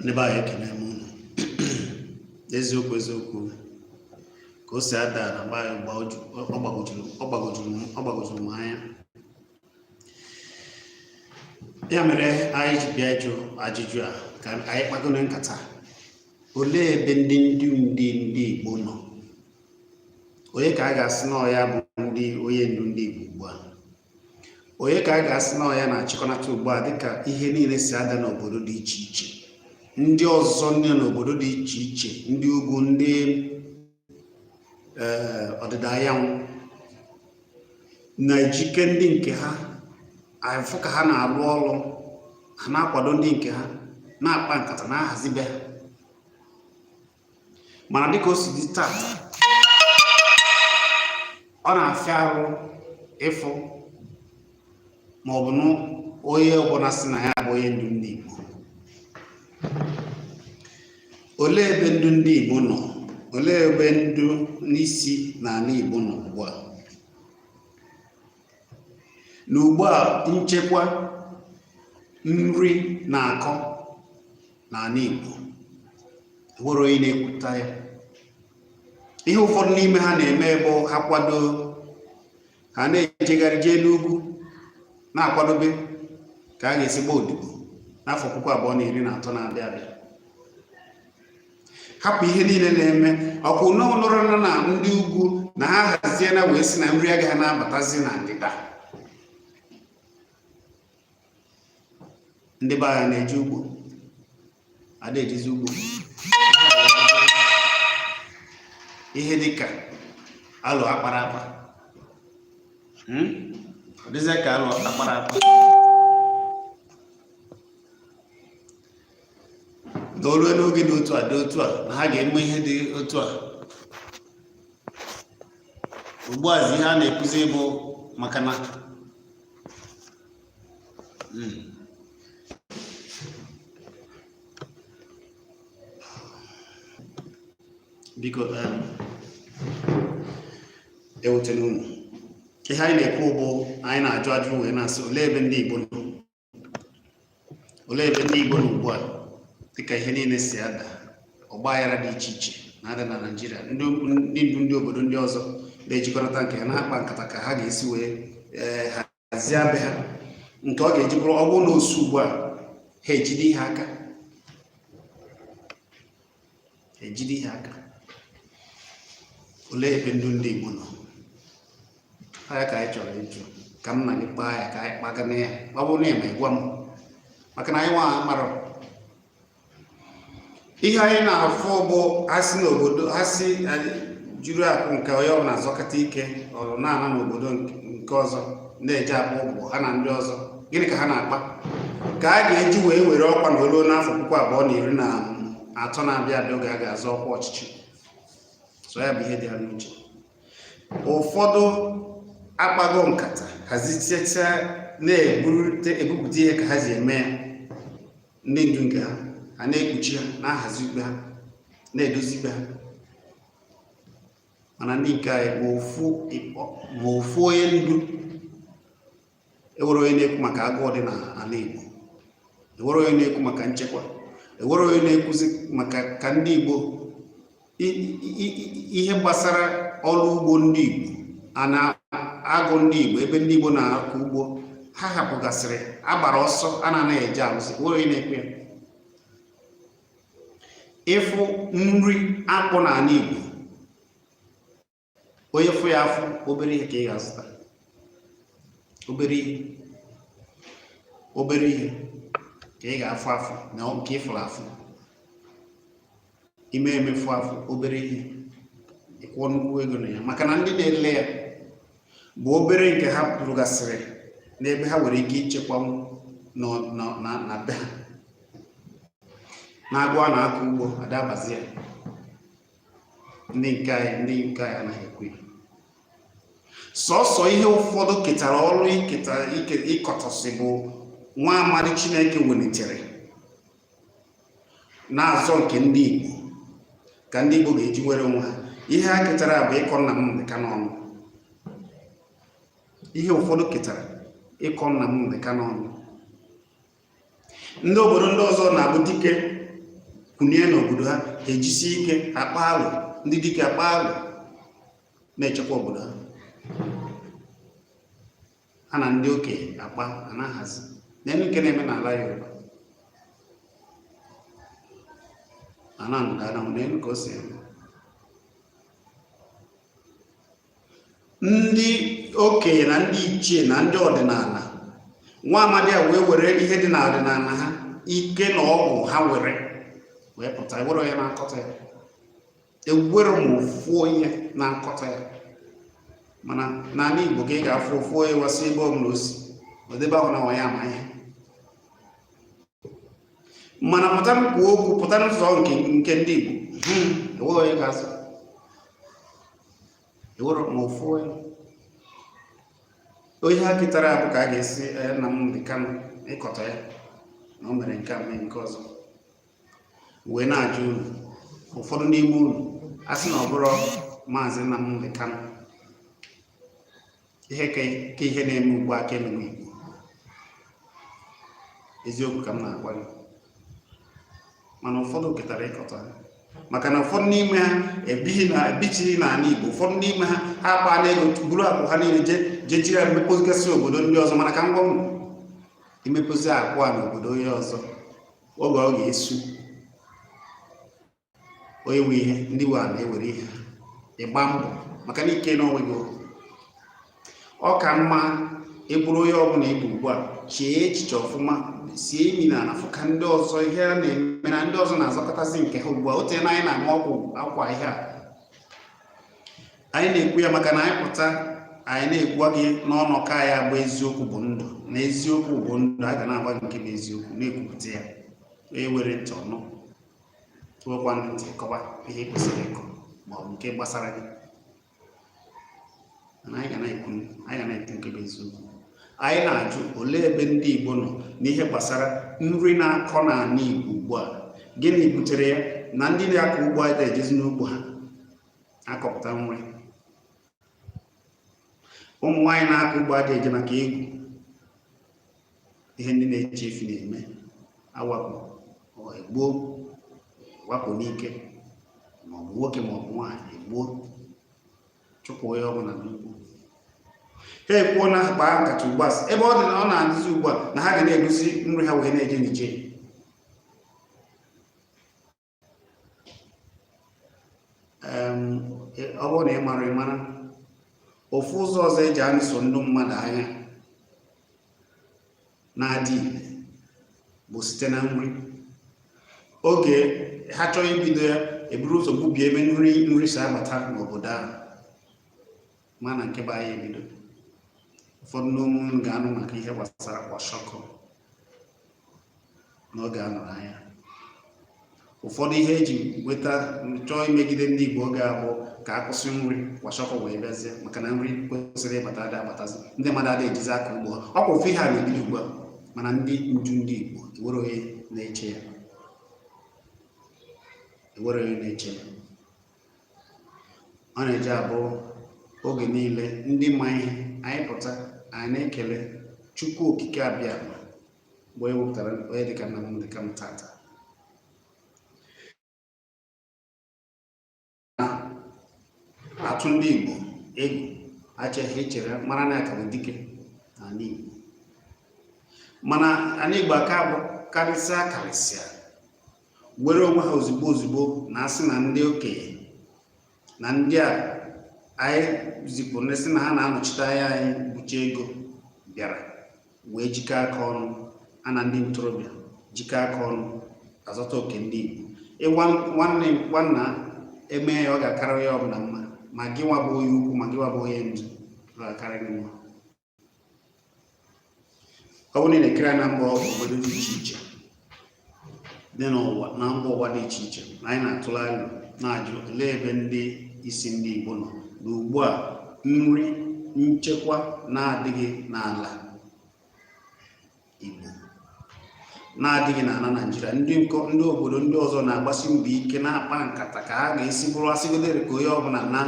ndị be anyị ekene m unu eziokwu eziokwu ka o si ada na be anyị ọ gbagojuru m anya ya mere anyị ji bịa ịjụ ajụjụ a ka anyị kpagoro nkata olee ebe ndị ndu ndị ndị Igbo nọ onye ka a ga-asị na ọ ya bụ ndị onye ndu ndị Igbo ugbu a onye ka a ga-asị na ọ ya na-achịkọnata ugbu a dịka ihe niile si ada n'obodo dị iche iche ndị ọzọ ndị n'obodo dị iche iche ndị ugwu ndị eh, ọdịda anyanwụ na-ejike ndị nke ha afụ ka ha na-alụ ọlụ ha na-akwado ndị nke ha na-akpa nkata na-ahazi be ha mana dịka o si dị tata ọ na-afịa arụ ịfụ ma ọ bụ na onye ọbụna sị na ya bụ onye ndu ndị Igbo olee ebe ndu ndị Igbo nọ olee ebe ndu n'isi n'ana Igbo nọ ugbu a na ugbu a nchekwa nri na-akọ n'ana Igbo o nwere onye na-ekwuta ya ihe ụfọdụ n'ime ha na-eme bụ ha kwado ha na-ejegharị jee n'ugwu na-akwadobe ka a ga-esi gbaa odibo n'afọ puku abụọ na iri na atọ na-abịa abịa hapụ ihe niile na-eme ọkwa unu nụrụnụ na ndị ugwu na ha haziena wee sị na nri agaghị na-abatazi na ndịda ndị be anyị na-eje ugbo a da ejezi ugbo ihe dịka alụ akpara akpa hmm? ọ dịzịa ka alụ akpara akpa na o lue n'oge dị otu a dị otu a na ha ga-eme ihe dị otu a ugbu a ihe a na-ekwuzi bụ maka na biko um, ewutela unu ihe anyị na-ekwu bụ anyị na-ajụ ajụ wee na-asị olee ebe ndị Igbo nọ olee ebe ndị Igbo nọ ugbu a dịka ihe niile si ada ọgba aghara dị iche iche na-ada na Naịjirịa ndị ndu ndị obodo ndị ọzọ na-ejikọrọta nke ha na-akpa nkata ka ha ga-esi wee eh, hazie be ha nke ọ ga-eji bụrụ ọ bụrụ na o su ugbu a ha ejide ihe aka ejide ihe aka olee ebe ndu ndị Igbo nọ ọ ya ka anyị chọrọ ịjụ ka m na gị kpaa ya ka anyị kpaga na ya ọ bụrụ na ị ma ị gwa m maka na anyị nwa amarọ ihe anyị na-afụ bụ asị n'obodo asị juru akụ nke onye ọbụna azọkata ike ọrụ na-ana n'obodo nke ọzọ na-eje akpa ụbọ ha na ndị ọzọ gịnị ka ha na-akpa ka a ga-eji wee nwere ọkwa na olu n'afọ puku abụọ na iri na atọ na-abịa abịa oge a ga-azọ ọkwa ọchịchị so ya bụ ihe dị ha n'uche ụfọdụ akpago nkata hazichecha na-ebupụta ihe ka ha ji eme ya ndị ndu nke ha ha na-ekpuchi ha na-ahazi ikpe ha na-edozi ikpe ha mana ndị nke anyị ma ofu ịkpọ ma ofu onye ndu enwerọ onye na-ekwu maka agụụ dị n'ana Igbo enwerọ onye na-ekwu maka nchekwa enwerọ onye na-ekwuzi maka ka ndị Igbo ihe gbasara ọrụ ugbo ndị Igbo a n'agụ ndị Igbo ebe ndị Igbo na-akọ ugbo ha hapụgasịrị gbara ọsọ a na-anaghị eje arụzi enwerọ onye na-ekwu ya ịfụ nri akpụ n'ana Igbo onye fụ ya afụ obere ihe ka ị ga-azụta obere ihe obere ihe ka ị ga-afụ afụ ma nke ị fụrụ afụ i me eme ị fụ afụ obere ihe ị kwụọ nnukwu ego na ya maka na ndị na-ele ya bụ obere nke ha rụgasịrị n'ebe ha nwere ike ichekwa na be ha n'agụ a na-akọ ugbo ada abazi ya ndị nke anyị ndị nke anyị anaghị ekwu sọsọ ihe ụfọdụ ketara ọrụ ịkọtọsị bụ nwa amadi chineke welitere na-azọ nke ndị Igbo ka ndị Igbo ga-eji nwere onwe ha ihe ha ketara bụ ịkọ Nnamdị Kanụ ọnụ ihe ụfọdụ ketara ịkọ Nnamdị Kanụ ọnụ ndị obodo ndị ọzọ na-abụ dike kwunie n'obodo ha e jisie ike akpa alụ ndị dike akpa alụ na-echekwa obodo ha ha na ndị okenye akpa a na-ahazi neenụ nke na-eme n'ala Yoruba ala ndịda anyanwụ neenụ ka o si eme ndị okenye na ndị ichie na ndị ọdịnala nwa amadi a wee were ihe dị n'ọdịnala ha ike na ọgwụ ha nwere wee pụta enwerọ onye na-akọtọ ya enwerọ ma ofu onye na-akọtọ ya mana n'ala Igbo ka ị ga-afụ ofu onye wasị ebe ọ bụla o si o debe ahụ na nwa ya ama ihe mana pụta kwuo okwu pụta n'ụzọ nke ndị Igbo hmm, enweghị onye ga-azụ enwerọ ma ofu onye ihe ha ketara abụ ka a ga-esi eh, Nnamdi Kanu ịkọtọ ya na o mere nke a mee nke ọzọ wee na-ajụ unu ụfọdụ n'ime unu a sị na ọ bụrọ maazị Nnamdi Kanu ihe ka ihe na-eme ugbu a ka emewe Igbo eziokwu ka m na-agwa gị mana ụfọdụ ketara ịkọtọ ha maka na ụfọdụ n'ime ha ebighị na ebichighị n'ala Igbo ụfọdụ n'ime ha ha akpana ego buru akụ ha niile je jee jiri ya mepozigasị obodo ndị ọzọ mana ka m gwa unu imepozi akụ a n'obodo onye ọzọ oge ọ ga-esu onye nwe ihe ndị nwe ala ewere ihe ị gba mbọ maka na ike n'onwe gị ọ ka mma ị bụrụ onye ọbụla ị bụ ugbu a chee echiche ọfụma sie imi n'ana fụ ka ndị ọzọ ihe a na-eme na ndị ọzọ na-azọkọtazi nke ha ugbu a o teena anyị na-ama ọgwụ akwa ihe a anyị na-ekwu ya maka na anyị pụta anyị na-ekwu gị n'ọnụ ka anyị gba eziokwu bụ ndụ na eziokwu bụ ndụ a ga na-agba nke bụ eziokwu na-ekwupụta ya onye nwere ntị ọ nụ tụọkwa ntị kọwa ihe e kwesịrị ịkọ ma ọ bụ nke gbasara gị anyị ga na-ekwu nke bụ eziokwu anyị na-ajụ olee ebe ndị Igbo nọ n'ihe gbasara nri na-akọ n'ala Igbo ugbu a gịnị butere ya na ndị na-akọ ugbo anyị ada ejezi n'ugbo ha akọpụta nri ụmụ nwaanyị na-akọ ugbo adịghị eje maka egwu ihe ndị na-eche efi na-eme awakpo egbuo wakpo n'ike maọbụ nwoke maọbụ nwaanyị egbuo chụpụ onye ọ bụla n'ugbo ha ekwuo na akpaa nkata ugbu a ebe ọ dị na ọ na-adịzi ugbu a na ha ga na-ebuzi nri ha wee na-eje Niger ọ bụrụ na ị marọ ị mara ofu ụzọ ọzọ e ji anụso ndị mmadụ aya na-adị ire bụ site na nri oge ha chọọ ibido ya e buru ụzọ gbubie ebe nri nri si abata n'obodo ahụ ma na nke bụ aya ebido ụfọdụ n'ime unu ga-anụ maka ihe gbasara kwashọkọ n'oge a nụrụ aya ụfọdụ ihe eji weta chọọ imegide ndị Igbo oge ahụ bụ ka a kwụsị nri kwashọkọ wee bịazie maka na nri kwesịrị ịbata ada abatazi ndị mmadụ ada ejizi aka ugbo ha ọ kwa ofu ihe a na-ebido ugbu a mana ndị ndu ndị Igbo enwerọ onye na-eche ya ọ na-eji abụ oge niile ndị ma ihe anyị pụta anyị na-ekele Chukwu Okike Abịama mgbe e wepụtara onye dịka Nnamdi Kanu taata atụ ndị igbo egwu acheghị echere mara na akara dike n'ala igbo mana ala igbo aka bụ karịsịa karịsịa were onwe ha ozugbo ozugbo na asị na ndị okenye na ndị a anyị zipụrụ ndị sị na ha na-anọchite anya anyị bụcha ego bịara wee jikọ aka ọnụ ha na ndị ntorobịa jikọ aka ọnụ azọta oke ndị Igbo nwanne nwanna eme ya ọ ga-akara onye ọbụla mma ma gị nwa bụ onye ukwu ma gị nwa bụ onye ndu ọ ga-akara gị mma ọ bụrụ na ị na-ekiri na mba obodo dị iche iche dị n'ụwa na mba ụwa dị iche iche na anyị na-atụrụ alo na-ajụ olee ebe ndị isi ndị Igbo nọ na ugbu a nri nchekwa na-adịghị n'ala Igbo na-adịghị n'ala Naịjirịa ndị obodo ndị ọzọ na-agbasi mbọ ike na-akpa nkata ka ha ga-esi bụrụ asịgodere ka onye ọbụla naa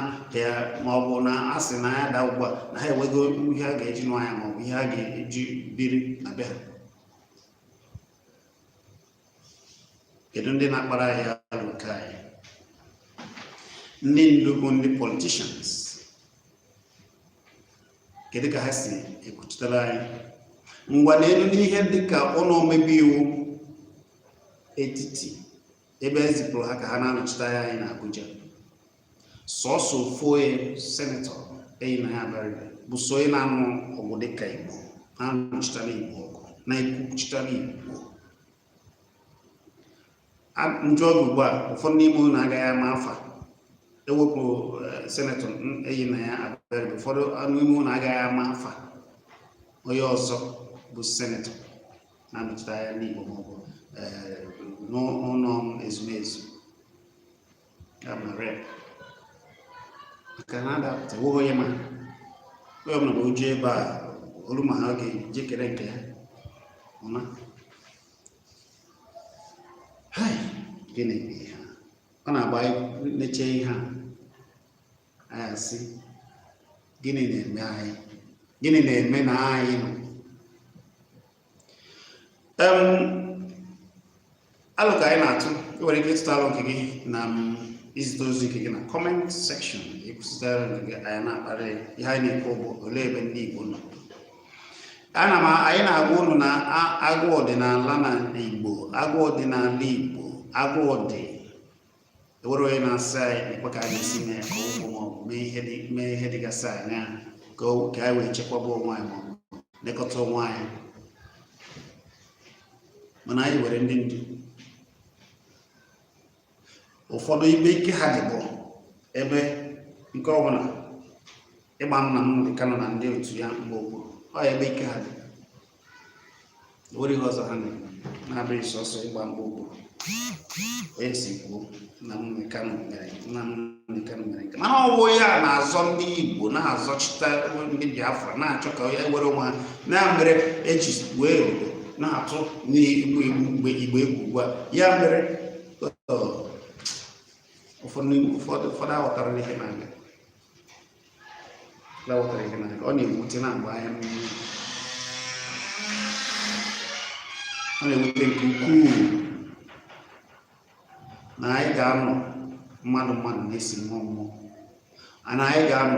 ma ọ bụ na asị na aya daa ugbu a na ha enwego ihe a ga-eji nụ aya ma ọ bụ ihe a ga-eji biri na be ha kedu ndị na-akpara anyị alo nke anyị ndị ndu bụ ndị politicians kedu ka ha si ekwuchitere anyị ngwa nenee n'ihe dịka ụlọ omebe iwu etiti ebe e zipụrụ ha ka ha na-anọchite anya anyị n'Abuja sọsọ ofu onye senetọ Enyinnaya Abaribe bụ sọ onye na-anụ ọgụ dịka Igbo na-anụchitara Igbo ọgụ na-ekwuchitara Igbo m jụọ gị ugbu a ụfọdụ n'ime unu agaghị ama afa ewepụ eh, senetọ Enyinnaya Abaribe ụfọdụ n'ime unu agaghị ama afa onye ọzọ bụ senetọ na-anọchite anya ndị Igbo maọbụ eh, n'ụlọ ezumezu ya mere maka na adapụta nweghị onye ma onye ọbụla ma oju ebe a olu ma ha ga-ejikere nke ya ọma hai gịnị bụ ihe a ọ na-abụ anyị neche ihe a anyị asị gịnị na-eme anyị gịnị na-eme na anyị nọ alo ka anyị na-atụ ị nwere ike ịtụta alo nke gị na izite ozi nke gị na comment section ịkwụsịtara nke gị anyị na-akparị ihe anyị na-ekwu bụ olee ebe ndị Igbo na-ana ma anyị na-agwa ụnụ na agwọ dị n'ala na Igbo agwọ dị n'ala Igbo agwọ dị enwere onye na-asị anyị nekwa ka anyị esi mee ka ụmụ maọbụ mee ihe dịgasị anya ka anyị wee chekwaba onwe anyị maọbụ lekọta onwe anyị mana anyị nwere ndị ndu ụfọdụ ebe ike ha dị bụ ebe nke ọbụla ịgba Nnamdi Kanu na ndị otu ya mgba okpuru ọ ya ebe ike ha dị nwere ihe ọzọ ha na-eme na-abụghị sọsọ ịgba mgba okpuru onye si kwuo na Nnamdi Kanu mere na Nnamdi Kanu mere nke mana ọwụ ya na-azọ ndị igbo na-azọchite ndị biafra na-achọ ka anyị nwere onwe anyị na mere eji wee obodo na-atụ ndị igbo egwu ndị igbo egwu ugbu a ya mere ụfọdụ aghọtara ihe na-aga ọ na-ewute na-agba anya mmiri ọ na-ewute nke ukwuu na anyị ga-anọ mmadụ mmadụ na-esi mmụọ mmụọ na anyị ga-anọ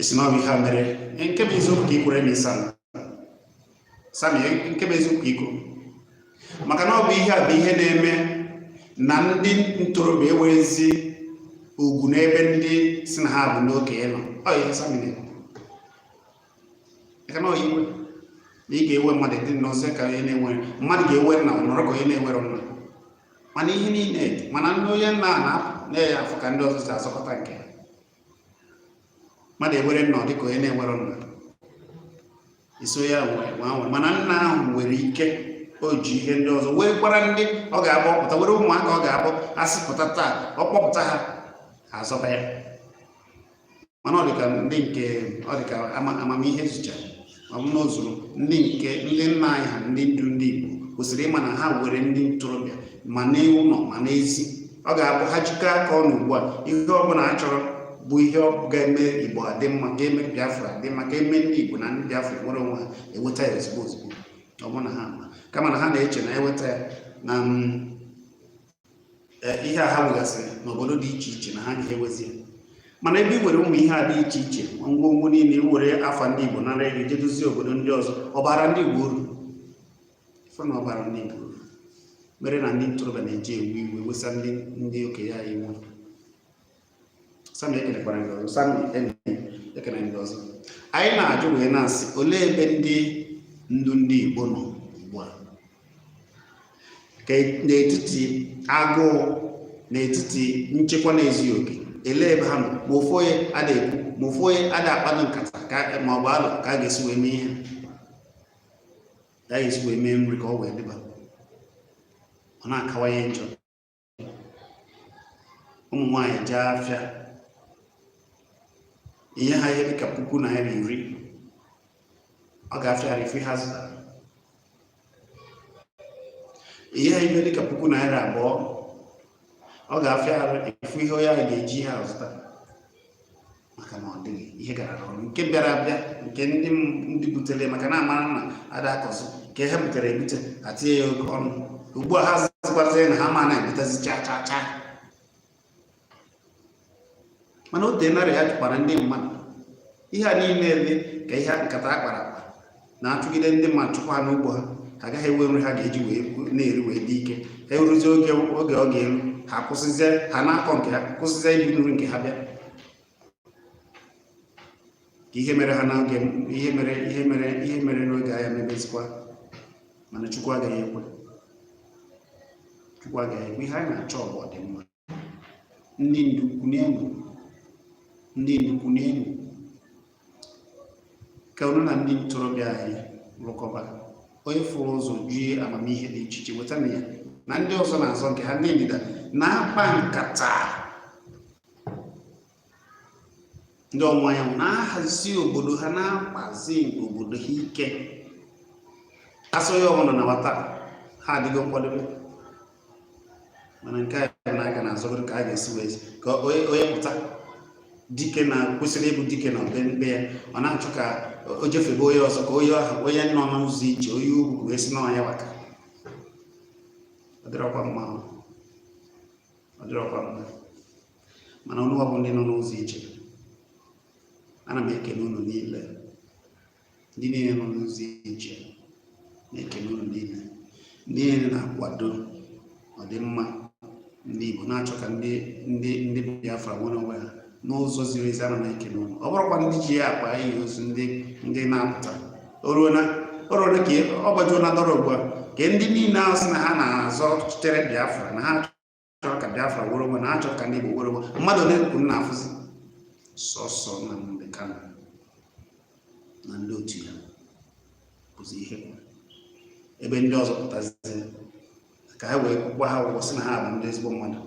esi na ọ bụ ihe a mere nke bụ eziokwu ka i kwuru emisam sami nke bụ eziokwu ka i kwuru maka na ọ bụ ihe a bụ ihe na-eme na ndị ntorobịa enweghịzi ugwu n'ebe ndị sị na ha bụ ndị okenye nọ ọ ihe sami na-ekwu na ị ga-enwe mmadụ dị nọrọ ka onye na-enwerọ mmadụ ga-enwe nna nọrọ ka onye na-enwerọ nna mana ihe niile mana ndị onye nna a na-apụ na-enye afọ ka ndị ọzọ si azọkọta nke ha mmadụ enwere nna ọ dị ka onye na-enwerọ nna iso ya nwere nwa nwere mana nna ahụ nwere ike o ji ihe ndị ọzọ wee kpara ndị ọ ga-abụ ọ pụta were ụmụaka ọ ga-abụ a sị pụta taa ọ kpọpụta ha azọba ya mana ọ dịka ndị nke ọ dịka amamihe zucha ma ọ bụ n'ozuru ndị nke ndị nna anyị ha ndị ndu ndị Igbo kwesịrị ịma na ha were ndị ntorobịa ma n'ụlọ ma n'ezi ọ ga-abụ ha jikọọ aka ọnụ ugbu a ihe ọ bụla a chọrọ bụ ihe ga-eme igbo adị mma ga-eme biafra adị mma ga-eme ndị igbo na ndị biafra nwere onwe ha eweta ya ozugbo ozugbo ọ bụ na ha kama na ha na-eche na eweta ya na mm, ihe a ha nwegasịrị n'obodo dị iche iche na ha ga-ewezi ya mana ebe i nwere ụmụ ihe a dị iche iche ngwongwo niile i were afa ndị Igbo nara ego je dozie obodo ndị ọzọ ọ bara ndị Igbo uru ife na ọ bara ndị Igbo uru mere na ndị ntorobịa na-eji ewe iwe wesa ndị ndị okenye anyị iwe sami ekenekwara ndị ọzọ sami enyi ekene ndị ọzọ anyị na-ajụ wee na-asị olee ebe ndị ndu ndị Igbo nọ ugbu a n'etiti agụụ n'etiti nchekwa na-ezughị oke elee ebe ha nọ ma ofu onye ada ekwu ma ofu onye ada akpado nkata ma ọ bụ alo ka a ga-esi wee mee ihe ka a ga-esi wee mee nri ka ọ wee dịba ọ na-akawanye njọ ụmụ nwaanyị jee afịa ihe ha ihe dịka puku naira iri ọ ga-afịa arụ ife ha zụtara ihe ha ihe dịka puku naira abụọ ọ ga-afịa arụ ịfụ ihe onye ahụ ga-eji ha zụta maka na ọ dịghị ihe garọ ọnụ nke bịara abịa nke ndị ndị butere maka na a mara na ada akọzi nke ha butere ebute a tinye ya oke ọnụ ugbu a ha sịkwazi na ha ama na-ebutezi cha cha cha mana o teenarị ha chụkwara ndị mmadụ ihe a niile dị ka ihe nkata a kpara na-achụgide ndị mmadụ chụkwa ha n'ugbo ha ha agaghị enwe nri ha ga-eji wee na-eri wee dị ike ha eruzie oge oge ọ ga-eru ha kwụsịzie ha na-akọ nke ha kwụsịzie ibu nri nke ha bịa ka ihe mere ha n'oge ihe mere ihe mere ihe mere n'oge agha mebezikwa mana chukwu agaghị ekwe chukwu agaghị ekwe ihe anyị na-achọ bụ ọdịmma ndị ndu kunienụ ndị ndu kunienụ ka unu na ndị ntorobịa anyị rụkọba onye fụrụ ụzọ jie amamihe dị iche iche wetanụ ya na ndị ọzọ na-azọ nke ha ndị ndịda na-akpa nkata ndị ọwụwa anyanwụ na-ahazi obodo ha na-akpazi obodo ha ike asọ ya ọbụla na nwata ha adịgo nkwadebe mana nke anyị a ka na-azọgodu ka a ga-esi wee ka onye pụta dike na kwesịrị ịbụ dike na be nke ya ọ na-achọ ka o jefe be onye ọzọ ka onye ahụ onye nọ n'ụzọ iche onye ugwu wee si n'ọnya waka ọ dịrọkwa mma ọ dịrọkwa mma mana unuwa bụ ndị nọ n'ụzọ ije ana m ekele unu niile ndị niile nọ n'ụzọ ije na-ekele unu niile ndị niile na-akwado ọdịmma ndị Igbo na-achọ ka ndị ndị ndị Biafra nwere onwe ha n'ụzọ ziri ezi ana m ekele unu ọ bụrụkwa ndị ji ya akpa ihe ozu ndị ndị na-apụta oruo na ọrụ ole ka ọ gbajuola dọrọ ugbu a ka ndị niile ahụ sị na ha na-azọchitere Biafra na ha chọrọ ka biafra nwere onwe na ha chọrọ ka ndị igbo nwere onwe mmadụ ole kwuru na-afụzi sọsọ Nnamdi Kanu na ndị otu ya bụzi ihe kwuru ebe ndị ọzọ pụtazi ka ha wee kwụba ha ụgwọ sị na ha bụ ndị ezigbo mmadụ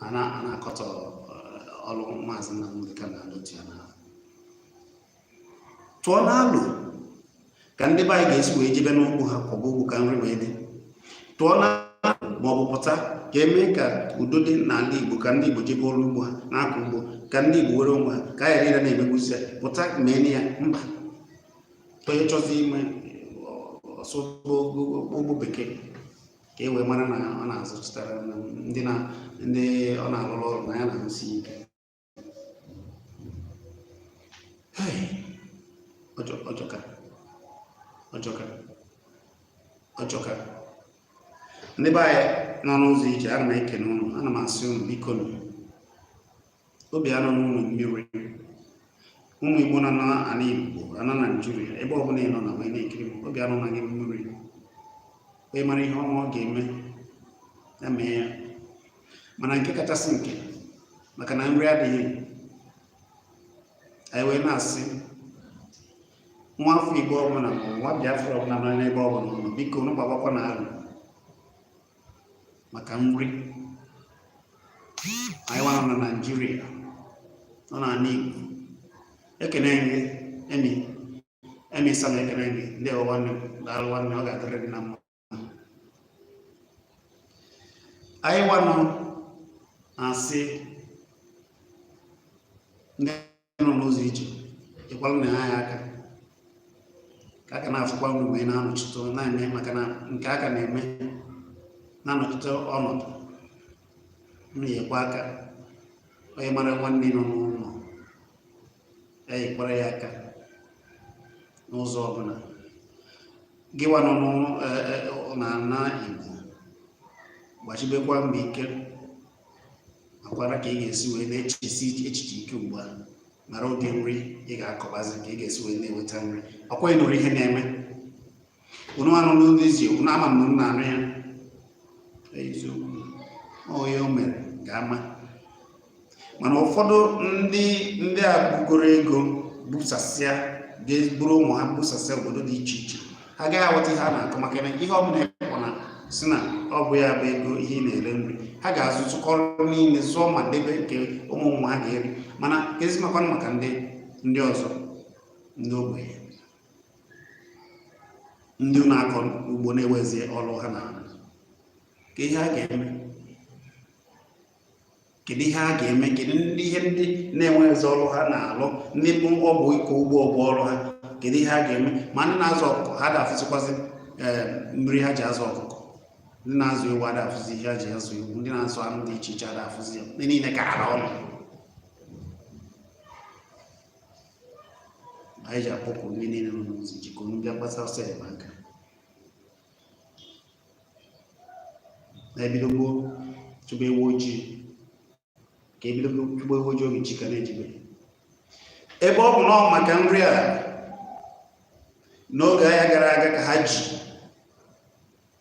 a na-akọtọ eh, ọrụ maazị Nnamdi Kanu na ndị otu ya na tụọnụ alo ka ndị be anyị ga-esi wee jebe n'ugbo ha kọba ugbo ka nri wee dị tụọnụ alo ma ọ bụ pụta ka e mee ka udo dị n'ala Igbo ka ndị Igbo jebe ọrụ ugbo ha na-akọ ugbo ka ndị Igbo were onwe ha ka a ghara na-emegbuzi ya pụta mee na ya mba onye chọzi ime ọ sụọ ụgbọ bekee ka e wee mara na ọ na-azụchitara ndị ọ na-alụrụ ọrụ na ya na-arụsi ike ọjọka ọjọka ọjọka ndị be anyị nọ n'ụzọ ije ana m ekene ụnụ ana m asị ụnụ bikonụ obi anọna ụnụ mmiri ụmụ igbo nọ n'ana igbo ana naijiria ebe ọbụla ị nọ na wee na-ekiri m obi anọna gị mmiri onye mara ihe ọma ọ ga-eme ya mee ya mana nke kachasị nke maka na nri adịghị anyị wee na-asị nwa afọ igbo ọbụla ma nwa biafra ọbụla nọ n'ebe ọbụla ọ nọ bikonụ gbabakwanụ alo maka nri anyị nwa nọ na naijiria nọ n'ala igbo ekene gị Emmy Emmy Sam ekene gị ndewo nwanne daalụ nwanne ọ ga-adịrị gị na mma anyị nwa nọ na-asị ndị nọ n'ụzọ ije nyekwalụnụ anyị aka ka aka na-afụkwa nri wee na-anọchite na-eme maka na nke a ka na-eme na-anọchite ọnọdụ na-enyekwa aka onye mara nwanne nọ n'ụlọ ya nyekwara ya aka n'ụzọ ọbụla gịwa nọ n'ala e, e, Igbo gbasibekwa mbọ ike makwara ka ị ga-esi wee na-echesi echiche ike ugbu a mara ụdị nri ị ga-akọbazi ka ị ga-esi wee na-enweta nri ọkwa ịnụrụ ihe na-eme unu anụrụ ụzọ isi unu ama na unu anụ ya eziokwu onye o mere ga-ama mana ụfọdụ ndị ndị a bugoro ego busasịa ga-eburu ụmụ ha busasịa obodo dị iche iche ha agaghị aghọta ihe a na-akọ maka na ihe ọbụla ekpọ na sị na ọ bụ ya bụ ego ihe ị na-ere nri ha ga-azụtụkọrọ niile zụọ ma debe nke ụmụ ụmụ ha ga-eri mana ezi makwanụ maka ndị ndị ọzọ ndị ogbenye ndị na-akọ ugbo na-enwezi ọrụ ha na-alụ kedu ihe a ga-eme kedu ihe a ga-eme kedu ndị ihe ndị na-enweghịzi ọrụ ha na-alụ ndị bụ ọ bụ ịkọ ugbo bụ ọrụ ha kedu ihe a ga-eme ma ndị na-azụ ọkụkọ ha ada afụzikwazi eh, mmiri ha ji azụ ọkụkọ ndị na-azụ ewu ada afụzi ihe ha ji azụ ewu ndị na-azụ anụ dị iche iche ada afụzi ya ihe niile ka ara ọnụ anyị ji akpọku ndị niile nọ n'ụzọ ije ka unu bịa gbasa ọsọ enyemaka na e bido gboo chụba ewu ojii ka e bido chụba ewu ojii oge chi ka na-ejibe ebe ọ bụ na ọ maka nri a n'oge agha gara aga ka ha ji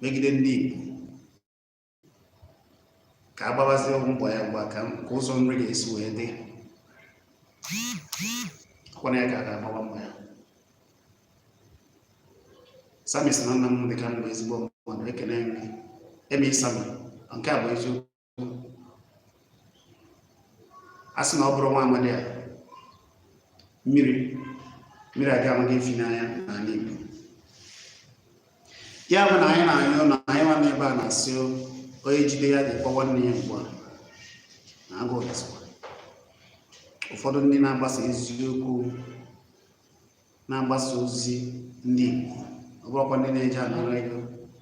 megide ndị Igbo ka a gbabazie mbọ ya mgba ka ụzọ nri ga-esi wee dị kwana ya ka a ga-agbawa mbọ ya Sami sị na nna m dị ka m bụ ezigbo mmadụ ekene dịrị eme isami nke a bụ eziokwu a sị na ọ bụrụ nwa amadi a mmiri mmiri aga amaghị efi n'anya n'ala Igbo ya bụ na anyị na-ayọ na anyị nwa n'ebe a na-asị onye jide ya dịkwa nwanne ya ugbu a na agụụ gụsịkwa ụfọdụ ndị na-agbasa eziokwu na-agbasa ozi ndị Igbo ọ bụrọkwa ndị na-eji anara ego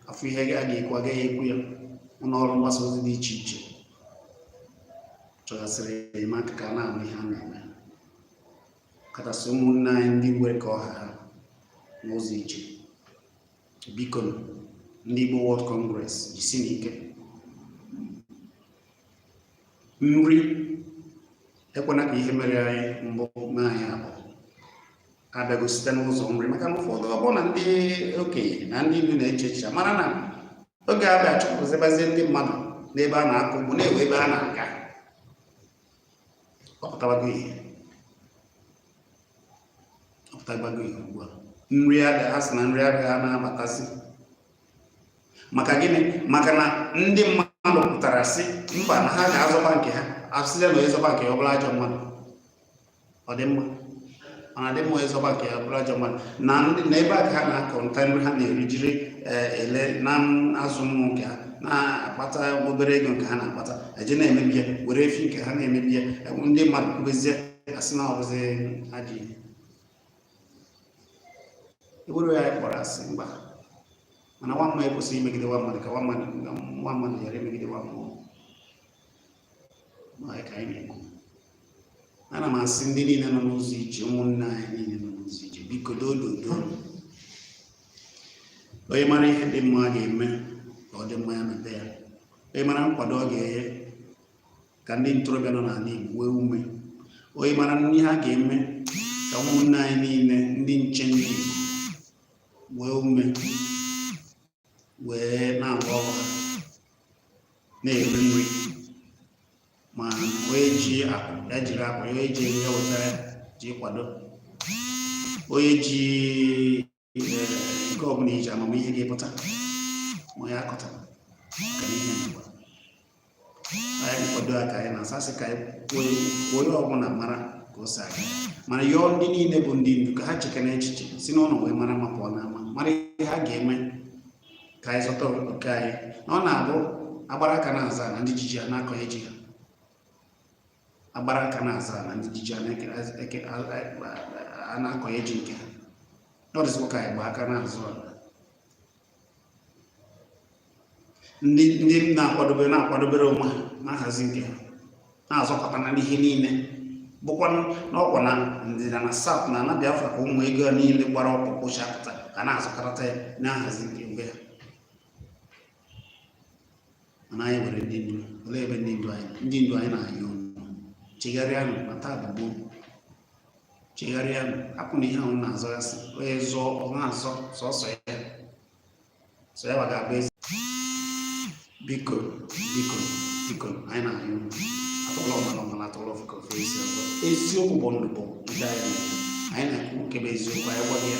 a fụ ihe a ga-ekwu agaghị ekwu ya ụlọ ọrụ mgbasa ozi dị iche iche chọgasịrị enyemaka ka a na-anụ ihe a na-eme kachasị ụmụnne anyị ndị nwere ka ọ ha ha n'ụzọ ije biko ndị Igbo World Congress jisinụ ike nri ekwana ka ihe mere anyị mbụ mee anyị abụọ abịago site n'ụzọ nri maka na ụfọdụ ọ bụrụ na ndị okenye na ndị ndu na-eche echiche mara na oge a bịa chụpụzibazie ndị mmadụ n'ebe a na-akọ ugbo na e nwere ebe a na-aga ọ pụtabago ihe ọ pụtabago ihe ugbu a nri adịghị ha sị na nri adịghị ha na-abatazi maka gịnị maka na ndị mmadụ pụtara sị mba na ha ga-azọba nke ha asịla na ịzọba nke ya ọ bụla ajọ mmadụ ọ dị mma mana dị mma ịzọba nke ya bụrụ ajọ mmadụ na ndị na ebe a ka ha na-akọ nta nri ha na-eri jiri eh, ele na-azụ ụmụ nke ha na-akpata obere ego nke ha na-akpata eje na-emebi ya were efi nke ha na-emebi ya ndị mmadụ kwubezie asị na ọ bụzi ajọ ihe e were ya kpọrọ asị mba mana nwa mmụọ ekwesịghị imegide nwa mmadụ ka nwa mmadụ ghara imegide nwa mmụọ ma ka anyị na-ekwu ana m asị ndị niile nọ n'ụzọ ije ụmụnne anyị niile nọ n'ụzọ ije biko dododo onye mara ihe dị mma a ga-eme ka ọ dị mma ya mebe ya onye mara nkwado ọ ga-enye ka ndị ntorobịa nọ n'ala Igbo nwee ume onye mara ihe ha ga-eme ka ụmụnne anyị niile ndị nche ndị Igbo nwee ume wee na-agba ọrụ na-eri nri ma onye ji akụ ya jiri akụ onye ji ego ya wetara ji kwado onye ji nke ọbụla iji amamihe gị pụta ma ya akọtara ọganihe n'ụwa anyị kwado ya ka anyị na-asasị ka onye ọbụla mara ka o si aga mana yọọ ndị niile bụ ndị ndu ka ha chekene echiche si n'ụlọ wee mara mma pụọ n'ama mara ihe ha ga-eme ka anyị zọta oke anyị na ọ na-abụ agbara aka na-azọ ana ndị ji ji a na-akọnye ji ha agbara aka na-azọ ana ndị ji ji a na-akọnye ji nke ha ọdịzikwa ka anyị gba aka na-azọ ala ndị ndị na-akwadobe na-akwadobere onwe ha na-ahazi nke ha na-azọkọta na ihe niile bụkwa n'ugwu na ndịda na South na ana biafra ka ụmụ ego niile gbara ọkpụrụkpụ chapụta ka na-azọkọta ya na-ahazi nke be ha mana anyị nwere ndị ndu olee ebe ndị ndu anyị ndị ndu anyị na-ayọ chegharịanụ na taa bụ gboo chegharịanụ hapụnụ ihe ahụ na-azọgasị onye zọọ ọ na-azọ sọsọ ya sọ ya ga-abụ eze biko biko biko anyị na-ayọ atụọra ọmara ọ mara atụọra ofeke o fe isi ọzọ eziokwu bụ ndụ bụ nke anyị na-ekwu nke bụ eziokwu anyị gwaghị ya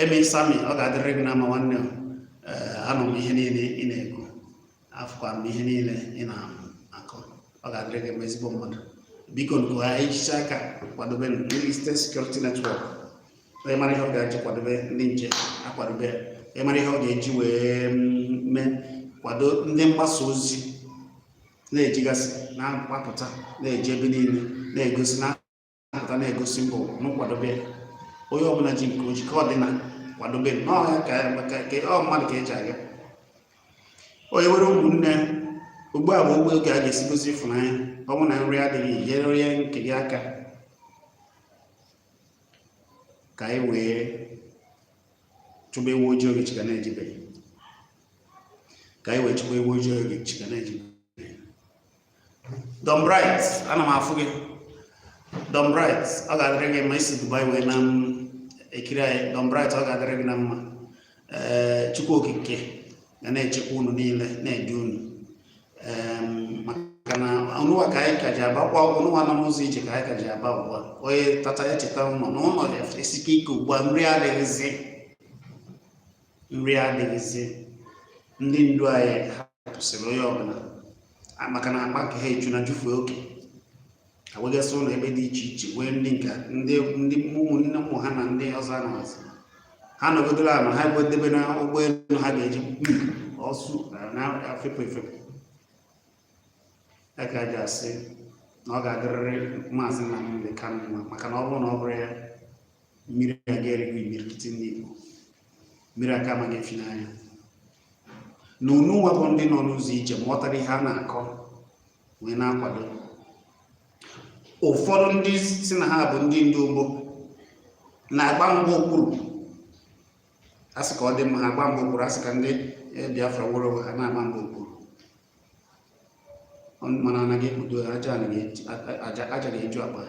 emi sami ọ ga-adịrị gị mma nwanne m eh, anụ m ihe niile ị na-ekwu afụkwa m ihe niile ị na-akọ ọ ga-adịrị gị mma ezigbo mmadụ bikonụ ka e jisie aka kwadobe ndị Eastern Security Network onye mara ihe ọ ga-eji kwadobe ndị nche akwadobe onye mara ihe ọ ga-eji wee mm, mee kwado ndị mgbasa ozi na-ejegasị na-agbapụta na-eje ebe niile na-egosi na na-apụta na-egosi m bụ nụ kwadobe onye ọbụla ji nke o ji ka ọ dị na kwadobe n'ọhịa ka ọ mmadụ ka e ji aga onye nwere ụmụnne ugbu a bụ bụ oge a ga-esi gosi ịfụnanya ọ bụ na nri adịghị nyere onye nke gị aka ka anyị wee chụba ewu ojii oge chi ka na-ejibeghị ka anyị wee chụba ewu ojii oge chi ka na-ejibeghị Don Bright ana m afụ gị Don Bright ọ ga-adịrị gị mma i si Dubai wee na-ekiri anyị Don Bright ọ ga-adịrị gị na mma ee eh, Chukwu Okike ga na-echekwa unu niile na-edu unu maka na ununwa ka anyị ka ji abakwa ununwa nọ n'ụzọ ije ka anyị ka ji aba ugbu a onye tata ya cheta ụlọ na ụlọ esike ike ugbu a nri adịghịzi nri adịghịzi ndị ndu anyị hapụsịrị onye ọbụla maka na akpa nke ha ejuna jufee oke ha nwegasị ụlọ ebe dị iche iche nwee ndị nke ndị ndị ụmụnne ụmụ ha na ndị ọzọ anọghịzi ha nọgidere ala ha edebena ụgbọelu ha ga-eji ọ sụ na ha efepụ efepụ ya ka a ga-eji asị na ọ ga-adịrịrị maazị Nnamdi Kanu mma maka na ọ bụrụ na ọ bụrọ ya mmiri aka erigo imirikiti ndị Igbo mmiri aka amago efi n'anya na ununwa bụ ndị nọ n'ụzọ ije ma ghọtara ihe a na-akọ wee na-akwado ụfọdụ ndị sị na ha bụ ndị ndu Igbo na-agba mgba okpuru a sị ka ọ dị mma ha agba mgba okpuru a sị ka ndị eh, Biafra nwere onwe ha na-agba mgba okpuru mana anaghị ekpudo aja ga-eju akpa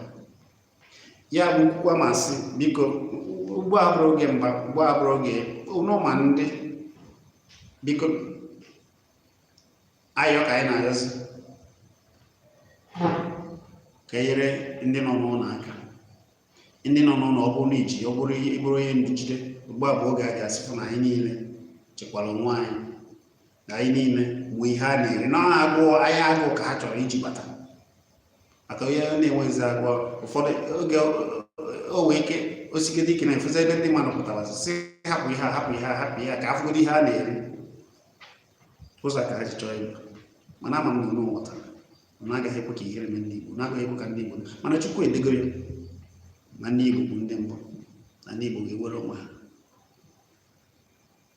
ya bụ kwukwa m asị biko ugbu a abụrọ oge mgba ugbu a abụrọ oge ọnụma ndị biko ayọ ka anyị na-ayọzi ka e nyere ndị nọ n'ụlọ aka ndị nọ n'ụlọ ọ bụrụ na i ji ọ bụrụ ị bụrụ onye njide ugbu a bụ oge a ga-asịpụ na anyị niile chekwara onwe anyị na anyị niile nwee ihe a na-eri na ọ agụụ agha agụụ ka ha chọrọ iji bata maka onye na-enweghịzi agụụ ụfọdụ oge o nwee ike o sigide ike na-efuzi ebe ndị mmadụ pụtara sị hapụ ihe a hapụ ihe a hapụ ihe a ka afụgodị ihe a na-eri ụzọ ka ha ji chọọ ịba mana ama m na unu ghọtara na agaghị ekwe ka ihere mee ndị Igbo na agaghị ekwe ka ndị Igbo mana Chukwu edego ya na ndị Igbo bụ ndị mbụ na ndị Igbo ga-ewere onwe ha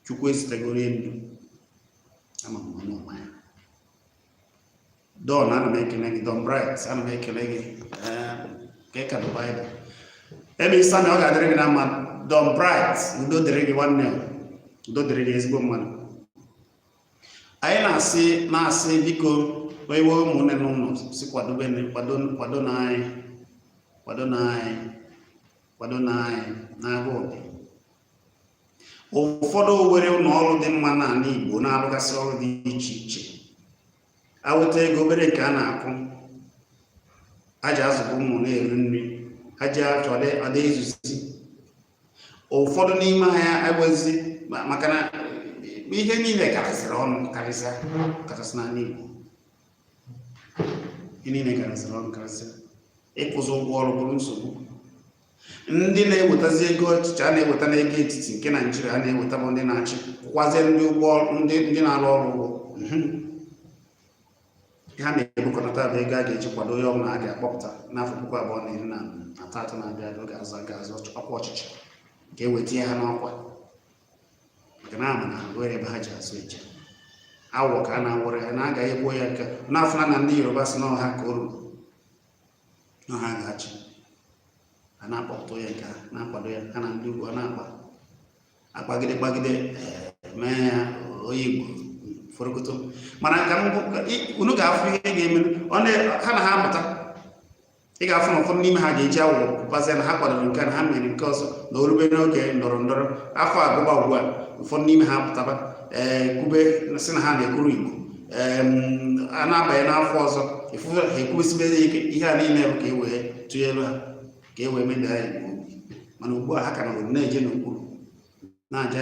chukwu ezitegoro ndụ ama m onye ọma ya don ana m ekele gị don bright ana m ekele gị ka ị ka dụ baịbụl ebe ị sị na ọ ga-adịrị gị na mma don bright udo dịrị gị nwanne m udo dịrị gị ezigbo mmadụ anyị na-asị na-asị biko onye nwe ụmụnne n'ụlọ sị kwadobe kwado kwadonụ anyị kwadonụ anyị kwadonụ anyị na-agụ obi ụfọdụ o nwere ụlọ ọrụ dị mma n'ala Igbo na-arụgasị ọrụ dị iche iche enweta ego obere nke a na-akwụ a ji azụbu ụmụ na-eri nri a ji achọ ọ da ezuzi ụfọdụ n'ime ha agbazi maka na ihe niile karịsịrị ọnụ karịsịa kachasị n'ala Igbo ihe niile karịsịrị ọnụ karịsịa ịkwụzi ụgwọ ọrụ bụrụ nsogbu ndị na-ewetazi ego ọchịchị a na-eweta n'ego etiti nke naijiria a na-eweta bụ ndị na-achị kwụzie ndị ụgwọ ndị ndị na-arụ ọrụ ụgwọ mhm. ha na-ebukọnata bụ ego a ga-eji kwado onye ọbụla a ga-akpọpụta n'afọ puku abụọ na iri abụọ na atọ na-abịa abịa ga-azọ ga-azọ ọkwa ọchịchị ka e wee tinye ha n'ọkwa maka na a ma na o nwere ebe ha ji azụ eje awọ ka a na-awụrụ ya na agaghị egbuo ya nke unu na-afụ na ndị yoruba sị na ọ ha ka o ruru na ha ga-achị a na-akpatụ ya nke a na-akpado ya ha na ndị ugwu a na-akpa akpagide kpagide eh, mee ya onye igbo forokoto mana ka unu ga-afụ ihe ga-eme ha na ha amụta ị ga-afụ na ụfọdụ n'ime ha ga-eji awụ pụbazie na ha kwadoro nke na ha mere nke ọzọ na o rube n'oge ndọrọ ndọrọ afọ agwụba ugbu a ụfọdụ n'ime ha pụtaba ee eh, kwube sị na ha na-ekwuru igbo a na-abanye n'afọ ọzọ efufe ha ekwusibe ya ike ihe a niile bụ ka e wee tụnyelu ha ka e wee mebie anyị igbo mana ugbu a ha ka na na-eje n'okpuru na-aja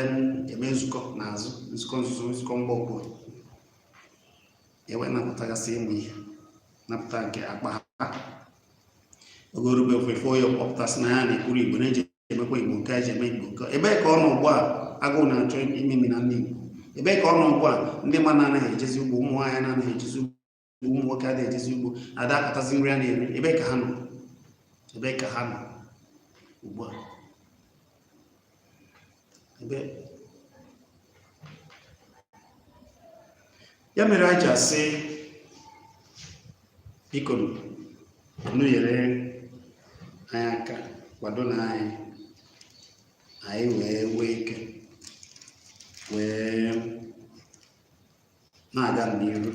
eme nzukọ n'azụ nzukọ nzuzo nzukọ mgba okpuru e wee napụtagasị ụmụ ihe napụta nke akpa ha oge rube ofefe onye pụta sị na ya na-ekwuru igbo na-eji emekwa igbo nke eji eme igbo nke ebee ka ọ nọ ugbu a agụụ na-achọ imemina ndị igbo ebee ka ọ nọ ugbu a ndị mmadụ anaghị ejezi ugbo ụmụ nwaanyị na-anaghị ejezi ugbo ụmụ nwoke adịghị ejezi ugbo a da akọtazi nri a na-eri ebee ka ha nọ ebee ka ha nọ ugbu a ya mere anyị ji asị biko unu nyere anyị aka kwadonụ anyị anyị wee nwee ike wee na-aga n'iru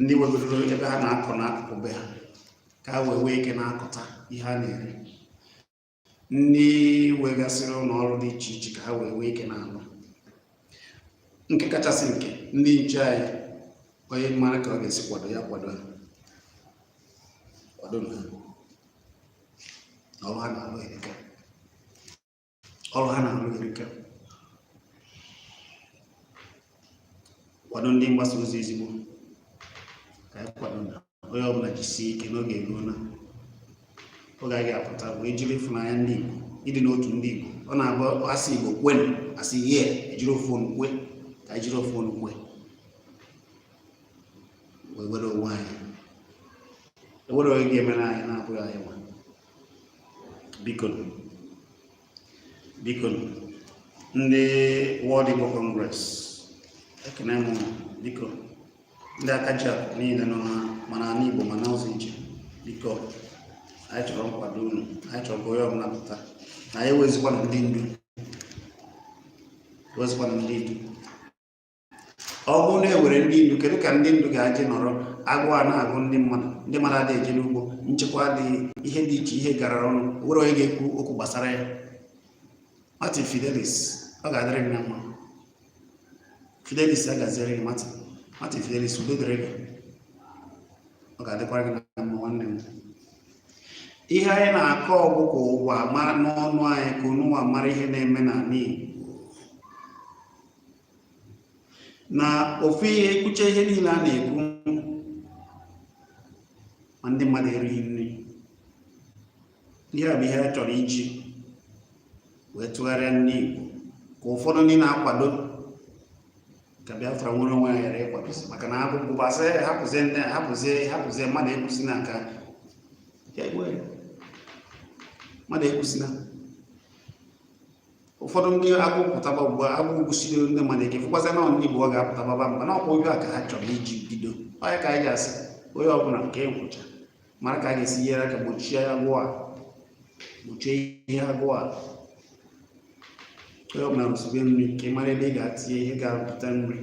ndị nwegoro ebe ha na-akọ n'akụkụ be ha ka ha wee nwee ike na-akọta ihe ha na-eri ndị nwegasịrị ụlọ ọrụ dị iche iche ka ha wee nwee ike na-alụ nke kachasị nke ndị nche anyị onye mara ka ọ ga-esi kwado ya kwado ha kwado ha ọrụ ha na-alụ erika ọrụ ha na-alụ erika kwado ndị mgbasa ozi ezigbo ka anyị kwado na onye ọbụla jisie ike na oge eruola oge anyị ga-apụta bụ ejiri ịfụnanya ndị Igbo ịdị n'otu ndị Igbo ọ na-abụ asị Igbo kwenu asị yee ejiri ofu onu kwe ka ejiri ofu onu kwe wee nwere onwe anyị enwerọ onye ga-emere anyị na-abụghị anyị nwa biko biko ndị World Igbo Congress ekene m unu biko ndị aka ji akụ niile nọ na ma n'ala Igbo ma n'ụzọ ije biko anyị chọrọ nkwado unu anyị chọrọ ka onye ọbụla pụta na anyị enwezikwana ndị ndu enwezikwana ndị ndu ọ bụrụ na enwere ndị ndu kedu ka ndị ndu ga-eji nọrọ agụụ a na-agụ ndị mmadụ ndị mmadụ adịghị eje n'ugbo nchekwa adịghị ihe dị iche ihe gara ọnụ enwerọ onye ga-ekwu okwu gbasara ya Martin Fidelis ọ ga-adịrị gị na mma Fidelis agaziere gị Martin Martin Fidelis udo dịrị gị ọ ga-adịkwara gị na mma nwanne m ihe anyị na-akọ ọ bụ ka ụwa mara n'ọnụ anyị ka ununwa mara ihe na-eme n'ala Igbo na ofu ihe ekwucha ihe niile a na-ekwu ma ndị mmadụ erighị nri ihe a bụ ihe a chọrọ iji wee tụgharịa ndị Igbo ka ụfọdụ ndị na-akwado ka Biafra nwere onwe ya ghara ịkwadozi maka na agụụ gbasa ya hapụzie ndị hapụzie hapụzie mmadụ ekwuzina ka mmadụ ekwuzina ụfọdụ ndị agụụ pụtaba ugbu a agụụ gụsiri ndị mmadụ ike fụkwazi na ndị Igbo ọ ga-apụtababa mba na ọkwa oge a ka ha chọrọ iji bido ọ ya ka anyị ga-asị onye ọbụla kee nkwụcha mara ka a ga-esi nyere aka gbochie agụụ a gbochie ihe agụụ a onye ọbụla rụsibe nri ka ị mara ebe ị ga-atinye ihe ga-arụpụta nri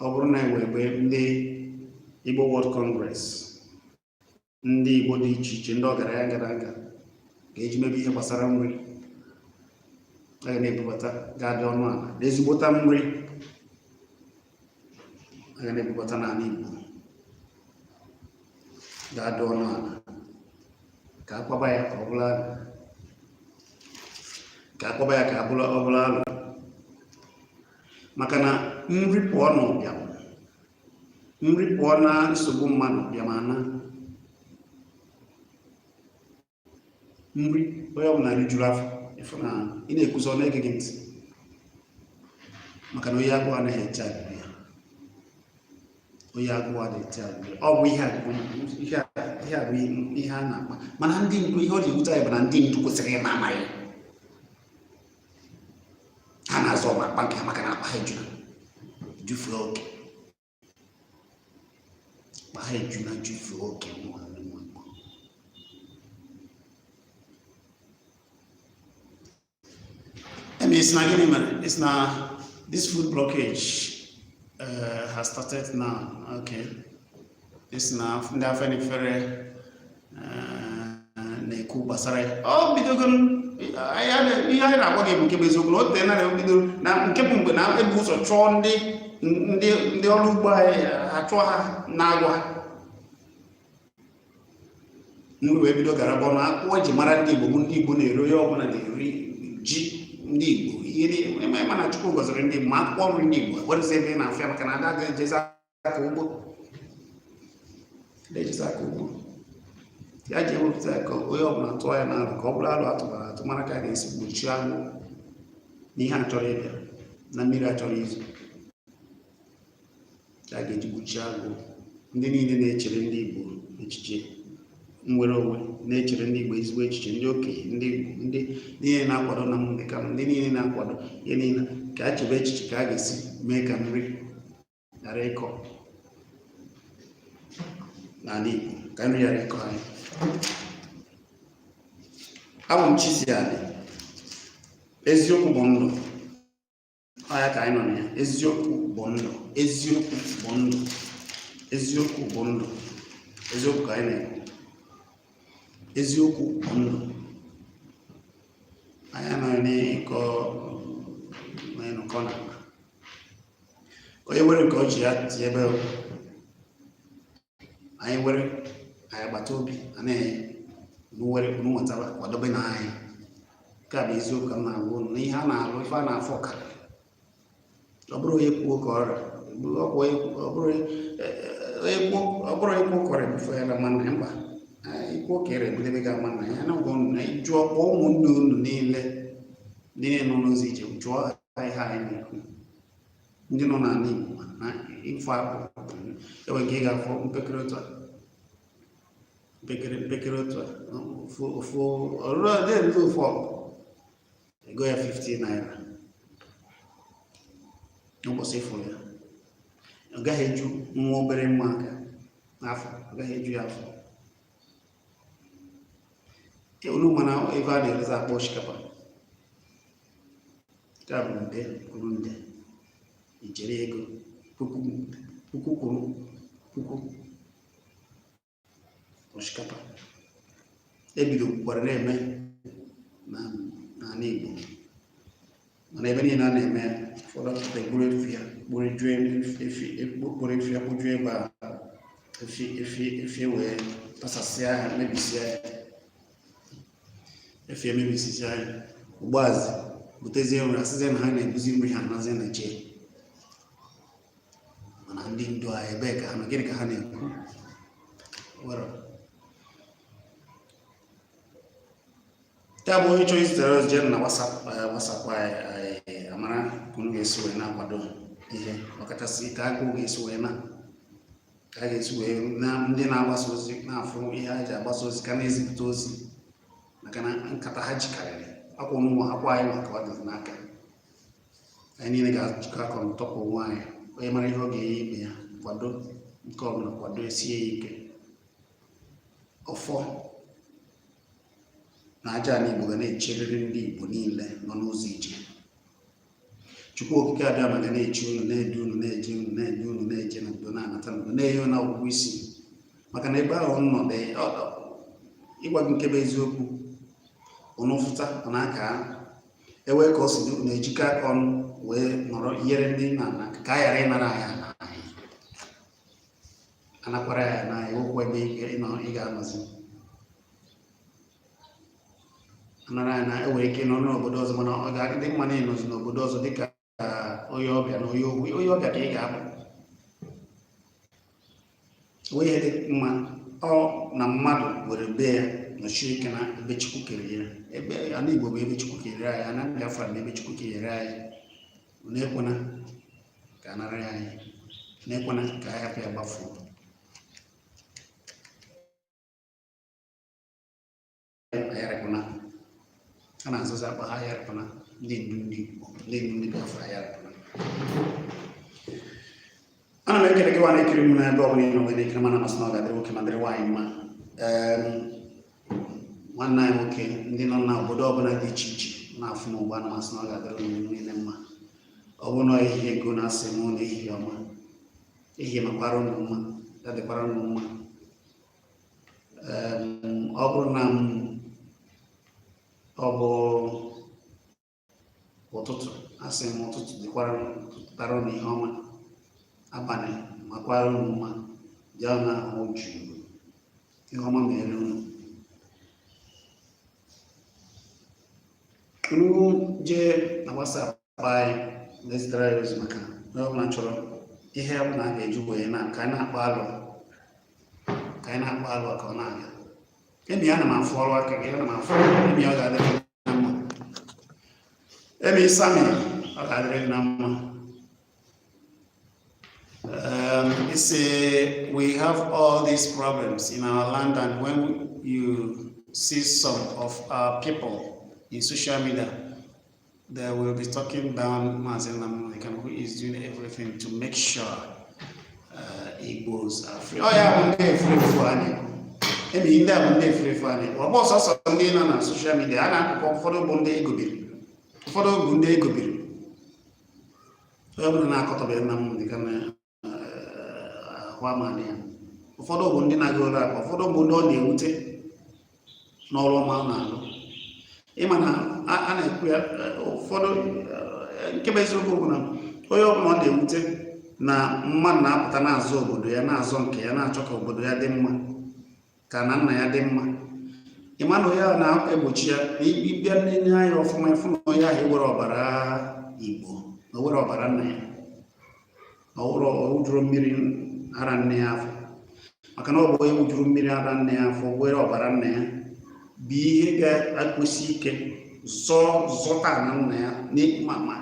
ọ bụrụ na enwee ebe ndị Igbo World Congress ndị Igbo dị iche iche ndị ọgaranya ngadanga ga-eji mebe ihe gbasara nri a ga na-ebubata ga-adị ọnụ ala na ezigbota nri a ga na-ebubata n'ala Igbo ga-adị ọnụ ala ka a kpaba ya ka ọ bụrụ alụ ka a kpaba ya ka ọ bụrụ alụ maka na nri pụọ n'ụbịam nri pụọ na nsogbu mmadụ bịa ma na nri onye ọbụla rijuru afọ ị fụ na ị na-ekwuzi ọ na-ege gị ntị maka na onye agụụ anaghị eche agụụ ya onye agụụ adịghị eche agụụ ya ọ bụ ihe a bụ ihe a ihe a bụ ihe a na-akpa mana ndị ndu ihe ọ ji ewute anyị bụ na ndị ndu kwesịrị ịma amaghị ha na-azọ ọgba akpa nke ha maka na akpa ha ejuna jufee oke akpa ha ejuna jufee oke nwanne m ị sị na gịnị mere ị sị na this food blockage uh, has started now okay ị sị na ndị Afenifere eh, na-ekwu gbasara ya ọ bidogo ihe anyị na-agwa gị bụ nke bụ eziokwu na o teena bido na nke bụ mgbe na-ebu ụzọ chụọ ndị ndị ọrụ ugbo anyị a chụọ ha na-agwa nri wee bido gara bụ na akwụkwọ eji mara ndị Igbo bụ ndị Igbo na-eri onye ọbụla na-eri ji ndị Igbo ị ma na Chukwu gọziri ndị Igbo ma akwụkwọ nri ndị Igbo ekwerezi ebe ị na-afịa maka na ada ga-ejezi aka ugbo na-ejizi aka ugbo ya ji ewepụta ka onye ọbụla tụọ ya n'alo ka ọ bụrụ alo a tụbara atụmara ka a ga-esi gbochie agụụ na ihe a chọrọ ịbịa na mmiri a chọrọ izo ka a ga-eji gbochie agụụ ndị niile na-echere ndị Igbo echiche nwere onwe na-echere ndị Igbo ezigbo echiche ndị okenye ndị Igbo ndị niile na-akwado Nnamdi Kanu ndị niile na-akwado ihe niile ka a chebe echiche ka a ga-esi mee ka nri ghara ịkọ n'ala Igbo ka nri ghara ịkọ anyị abụ m Chisiani eziokwu bụ ndụ ọ ya ka anyị nọ na ya eziokwu bụ ndụ eziokwu bụ ndụ eziokwu bụ ndụ eziokwu ka anyị na-ekwu eziokwu bụ ndụ anyị anaghị na-ekọ na ịnụkọ na onye nwere nke o ji ya chebe anyị nwere anyị agbata obi anaghị nwere nwetara kwadobe na anyị nke a bụ eziokwu ka m na-agwa ụnụ na ihe a na-alụ ife a na-afụ ka ọ bụrụ onye kwuo ka ọrịa ọ bụrụ onye kwuo kọrọ ebufe ya na mana mba ikwu ka ere ebudebe ga ama na ya na ụgwọ na ịjụọ kpọọ ụmụnne unu niile ndị na-enọ n'ụzọ ije jụọ na ihe anyị na-ekwu ndị nọ n'ala Igbo na ịfụ akpụ enwe nke ị ga-afụ mpekere otu a mpekere mpekere otu a ofu ọrụrụ ọdị elu ofu ọkụ ego ya 50 naira n'ụbọchị ịfụ ya ọ gaghị eju nwa obere nwa aka afọ ọ gaghị eju ya afọ unu ma na ebe a na-erezi akpa osikapa nke a bụ nde kwuru nde ijeri ego puku kwuru puku osikapa ebidokwara na-eme n'ala Igbo mana ebe niile a na-eme ụfọdụ pụta eduru efi ya kpụrụ efi ya kpụjuo ebe a efi wee tasasịa ya mebisịa ya efi emebisịa ya ugbuazị butezie nri asịzie na ha na-ebuzi nri ha nazie na chee mana ndị ndu a ebee ka ha nọ gịnị ka ha na-ekwu were ya bụ onye chọrọ izitere ozi jee na WhatsApp anyị amara ka unu ga-esi wee na-akwado ihe ọkachasị ka agụụ ga-esi wee na ka a ga-esi wee na ndị na-agbasa ozi na-afụ ihe ha ji agbasa ozi ka na-ezipụta ozi maka na nkata ha jikarịrị akwa ọnụnwa akwa anyị maka ọ dị n'aka anyị niile ga-ajikọ aka atọpụ onwe anyị onye mara ihe ọ ga-enye ibe ya kwado nke ọbụla kwado esie ya ike ọfọ na aja ala Igbo ga na-echerịrị ndị Igbo niile nọ n'ụzọ ije Chukwu okike abịama ga na-eche unu na-edu unu na-eje unu na-enye unu na-eje na udo na-anata na udo na-enye unu ọgụgụ isi maka na ebe ahụ nọ ịgwa gị nke bụ eziokwu unu fụta ọ na-aka ewee ka ọ si dị unu ejikọ aka ọnụ wee nọrọ nyere ndị ụnọ aka ka a ghara ịnara anyị anakwara ya na enwekwa ebe ị ga-anọzi anara ya na enwere ike ịnọ n'obodo ọzọ mana ọ ga-adị mma na ịnọzi n'obodo ọzọ dịka onye ọbịa na onye ọbịa ka ị ga-abụ ihe dị mma ọ na mmadụ were be ya nọsie ike na ebe chukwu kere ya ebe ala igbo bụ ebe chukwu kere anyị ana Biafra na ebe chukwu kere anyị unu ekwena ka a nara ya anyị unu ekwena ka anyị rapụ ya gbafuo anyị arapụna a na-azụzi akpa ha anyị arapụna ndị ndu ndị Igbo ndị ndu ndị Biafra anyị arapụna ana m ekele gị nwa na-ekiri m n'ebe ọ bụla ị nọ wee na-ekiri m ana m asị na ọ ga-adịrị nwoke ma dịrị nwaanyị mma nwanne anyị nwoke ndị nọ na obodo ọbụla dị iche iche na-afụ m ugbu a ana m asị na ọ ga-adịrị unu niile mma ọ bụ na ehihie nke unu asị m na ehihie ọma ehihie makwara unu mma ya dịkwara unu mma ọ bụrụ na ọ bụ ụtụtụ asị m ụtụtụ dịkwara tara na ihe ọma abalị makwara unu mma ya na ahụ jụụ ihe ọma mere unu unu jee na WhatsApp anyị na-ezitere ya ozi maka onye ọbụla chọrọ ihe ọ bụla a ga-eji wee nọlụ ka anyị na-akpa alo ka ọ na-aga emi ana m afụ ọrụ aka gị ana m afụ emi ọ ga-adịrị gị na mma emi sami ọ ga-adịrị gị na mma Um, he said, we have all these problems in our land, and when you see some of our people in social media, They will be talking down Mazi Nnamdi Kanu who is doing everything to make sure uh, Igbos are free. ọ ya bụ ndị efulefu anyị. Emi ndị a bụ ndị efulefu anyị ọ bụrọ sọsọ ndị nọ na social media a na-akụkọ ụfọdụ bụ ndị egobiri ụfọdụ bụ ndị egobiri onye bụrụ na-akọtọbe Nnamdi Kanu ahụ amanị ya ụfọdụ bụ ndị na-agụ ụlọ akụ ụfọdụ bụ ndị ọ na-ewute n'ọrụ ọma ọ na-alụ ị ma na a na-ekwu ya ụfọdụ nke bụ eziokwu bụ na onye ọbụla ọ na-ewute na mmadụ na-apụta na-azọ obodo ya na-azọ nke ya na-achọ ka obodo ya dị mma ka ana nna ya dị mma ị ma na onye ahụ na-egbochi ya na ị bịa nene anya ọfụma ị fụ na onye ahụ enwerọ ọbara Igbo na o nwerọ ọbara nna ya ọ ṅụrọ ọ ṅụjurọ mmiri ara nne ya afọ maka na ọ bụ onye ṅụjuru mmiri ara nne ya afọ nwere ọbara nna ya bụ ihe ga-akwụsi ike zọọ zọta ana nna ya n'ịkpụma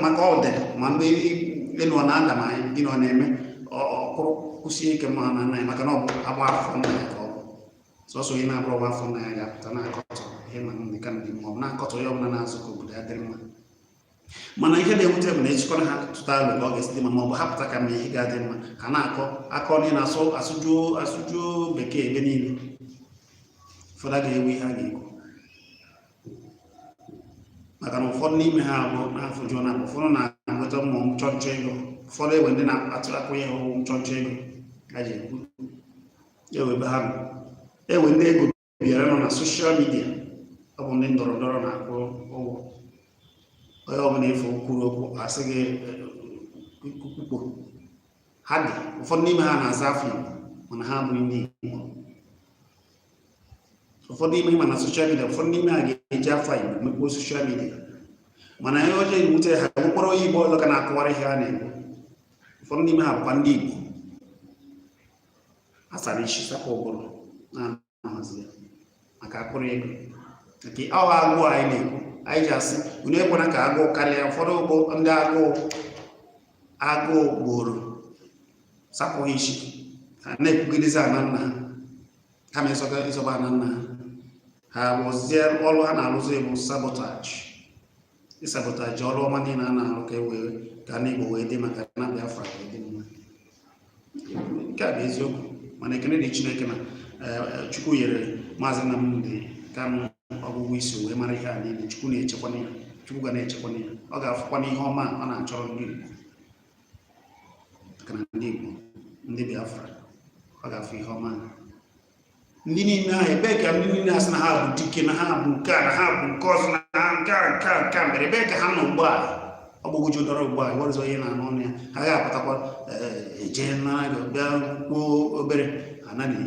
maka ọ dị ma mgbe elu ọ na-ada ma gịnị ọ na-eme ọ kwụrụ kwụsie ike n'ana nna ya maka na ọ bụ nwa afọ nna ya ka ọ bụ sọsọ onye na-abụrọ nwa afọ nna ya ga-apụta na-akọtọ Nnamdi Kanu ma ọ bụ na-akọtọ onye ọbụla na-azọ ka obodo ya dịrị mma mana ihe na-ewute bụ na ejikọrọ ha tụta alo ka ọ ga-esi dị mma ma ọ bụ ha pụta kama ihe ga-adị mma ka a na-akọ akọ onye na-asụ asụjuo asụjuo bekee ebe niile ụfọdụ ga-ewe ihe a ga-ekwu maka na ụfọdụ n'ime ha abụ n'afọ jụọ na ụfọdụ na-enweta mmụọ nchọnchọ ego ụfọdụ enwe ndị na-atụ akụ ya ọgwụ nchọnchọ ego a ji ekwu enwe ebe ha nọ enwe ndị ego bịara nọ na soshal midia ọ bụ ndị ndọrọ ndọrọ na-akwụ ụgwọ onye ọbụla ị fụ kwuru okwu asị gị kwukwo ha dị ụfọdụ n'ime ha na-aza afa igbo mana ha abụghị ndị igbo ụfọdụ n'ime ha na soshal midia ụfọdụ n'ime ha ga-eji afa igbo mekpoo soshal midia mana ihe ọjọọ ewute ha nwekwara onye igbo ọzọ ka na-akọwara ihe a na-ekwu ụfọdụ n'ime ha bụkwa ndị igbo a sara isi sapụ ụbụrụ na-ahazi ya maka mkpụrụ ego nke awa agụụ anyị na-ekwu anyị ji asị unu ekwena ka agụụ karịa ụfọdụ bụ ndị agụụ agụụ gburu sapụ isi ha na-ekwugidezi ana nna ha kama ịzọta ịzọba ana nna ha ha rụzie ọrụ ha na-arụzi bụ sabotaji ịsabotaji ọrụ ọma niile a na-arụ ka e wee ka ana Igbo wee dị mma ka ana Biafra wee dị mma nke a bụ eziokwu mana ekene dị Chineke na eh, Chukwu nyere maazị Nnamdi Kanu ọgụgụ isi wee mara ihe a niile Chukwu na-echekwana ya Chukwu ga na-echekwana ya ọ ga-afụkwana ihe ọma ọ na-achọrọ ndị Igbo maka na ndị Igbo ndị Biafra ọ ga-afụ ihe ọma ndị niile ahụ ebee ka ndị niile asị na ha bụ dike na ha bụ nke a na ha bụ nke ọzọ na ha nke a nke a nke a mere ebee ka ha nọ ugbu a ọ bụ ụjọ dọrọ ugbu a ịwarụzọ ihe na-anụ ọnụ ya ha ga-apụtakwa eje eh, nara gị bịa kwuo obere anaghị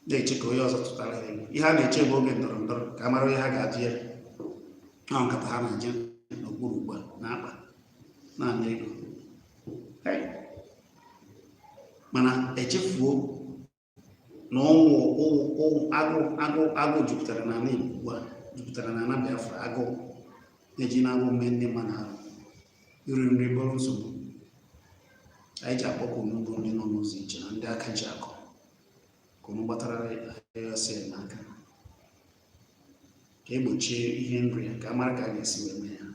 na-eche ka onye ọzọ tụtara ha ihe ha na-eche bụ oge ndọrọ ndọrọ ka a mara ihe ha ga-atụ ya ọ nkata ha na-eje n'okpuru ugbu a na-akpa na-ana ego mana echefuo na ọnwụ agụụ agụụ agụụ jupụtara n'ala Igbo ugbu a jupụtara n'ala Biafra agụụ na-eji na-agụ ume ndị mmadụ ahụ iri nri bụrụ nsogbu anyị ji akpọku unu bụ ndị nọ n'ụzọ ije na ndị aka ji akụ ka unu gbatara ESN n'aka ka egbochie ihe nri ya ka a mara ka a ga-esi wee mee ya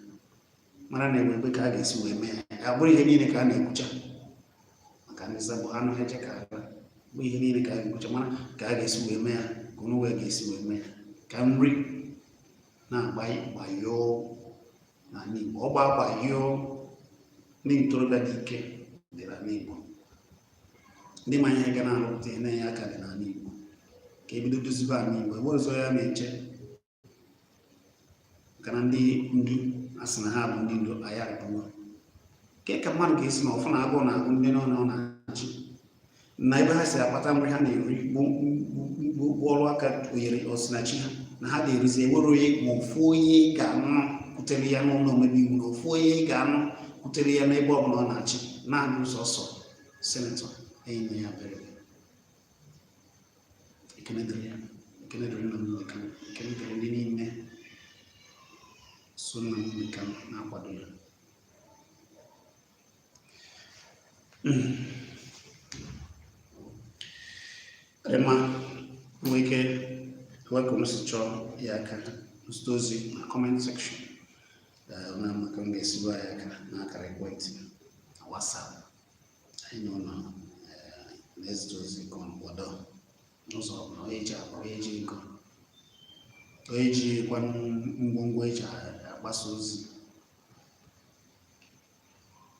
mara na enwe ebe ka a ga-esi wee mee ya ọ bụrọ ihe niile ka a na-ekwucha maka ndị sabo anụ ha eche ka a bụ ihe niile ka a ga-ekwucha mara ka a ga-esi wee mee ya ka onye wee ga-esi wee mee ya ka nri na-agbayoo n'ala Igbo ọgba agba yio ndị ntorobịa dị ike dị n'ala Igbo ndị ma ihe ga na-arụpụta ihe na-enye aka dị n'ala Igbo ka ebido dozibe ala Igbo ebe ọzọ ya na-eche maka na ndị ndu asị na ha bụ ndị ndu anyị arịpụwa kee ka mmadụ ga-esi na-afụ na agụụ na-agụ ndị ọ nọ na-achị na ebe ha si akpata nri ha na-eri bụ ọrụ aka oyere osinachi ha na ha ga-erizi enwerọ onye ma ofu onye ga-anọ kwutere ya n'ụlọ omebe iwu na ofu onye ga-anọ kwutere ya n'ebe ọ bụla ọ na-achị naanị sọọsọ Senetọ Enyinnaya Abaribe ekene dịrị ya ekene dịrị nna m ekene ekene dịrị ndị niile so nna m na-akwado ya ịma nwee ike ewepụ m si chọọ inye aka zite ozi na comment section na maka m ga-esiba ya aka n'akara ekwentị na WhatsApp anyị na onye na-ezite ozi ka ọ kwado n'ụzọ ọbụla onye ji akwa onye ji ego onye ji kwanụ ngwongwo eji agbasa ozi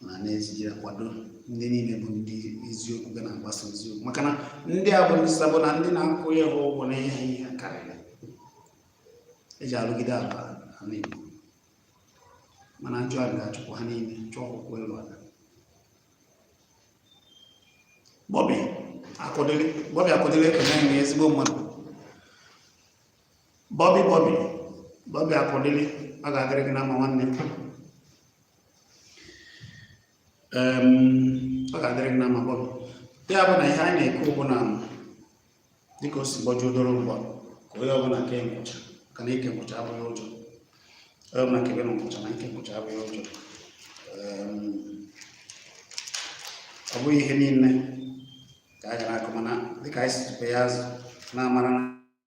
ma na-eji akwado ndị niile bụ ndị eziokwu ga na-agbasa eziokwu maka na ndị a bụ ndị sabo na ndị na-akwụ ya ha ụgwọ na ihe ihe karịrị eji arụgide ala ala Igbo mana njọ a ga-achụpụ ha niile chụọ ha ụkwụ elu ala Bobby Okwudili Bobby Okwudili ekene na ezigbo mmadụ Bobby Bobby Bobby Okwudili ọ ga-adịrị gị na mma nwanne m ọ ga-adịrị gị na mma Bobby ya bụ na ihe anyị na-ekwu bụ na dịka o si gbọjuo doro mgba ka onye ọbụla kee nkwụcha ka na ịke nkwụcha abụghị ụjọ onye ọbụla kebe nkwụcha na ịke nkwụcha abụghị ụjọ Em, ọ bụghị ihe niile ka anyị ga na-akọ mana dịka anyị si tupe ya azụ na-amara na